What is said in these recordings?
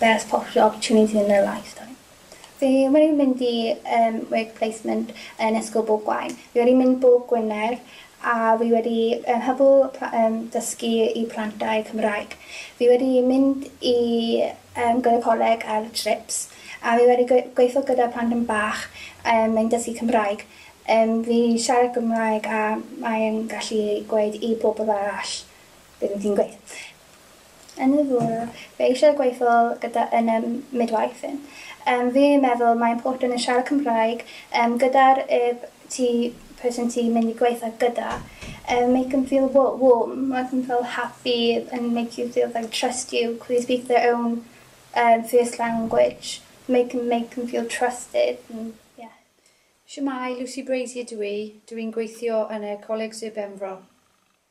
Best possible opportunity in their lifetime. Fi wedi mynd i yym work placement yn Ysgol Bwgwain. Fi wedi mynd bob Gwener a fi wedi yy hybu pla- yym dysgu i plantai Cymraeg. Fi wedi mynd i yym gyda coleg ar trips a fi wedi gwe- gweitho gyda planhwyn bach yym yn dysgu Cymraeg. Yym fi siarad Cymraeg a mae yn gallu gweud i pobl arall be' fi'n gweud. Yn y bore, fe eisiau gweithio gyda yn y midwife yn. Yym fi meddwl mae important yn siarad Cymraeg yym gyda'r yb ti person ti mynd i gweitho gyda yym make them feel wa- warm make them feel happy and make you feel they trust you cos they speak their own yym first language make them make them feel trusted and ie. Shwmae, Lucy Brazier dw i, dw i'n gweithio yn y Coleg Sir Benfro.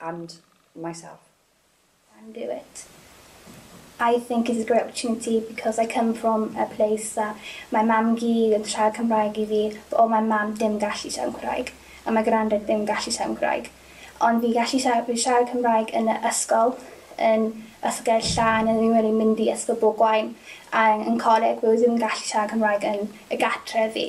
and myself. can do it. I think it is a great opportunity because I come from a place that mae mam gu yn siarad Cymraeg i fi but oedd mae mam dim gallu siarad Cymraeg a mae grandad ddim gallu siarad Cymraeg ond fi gallu siarad, fi siarad Cymraeg yn y ysgol yn Ysgol Gerrig Llan yn ddim wedi mynd i ysgol bob gwain a yn coleg fi ddim gallu siarad Cymraeg yn y gartref fi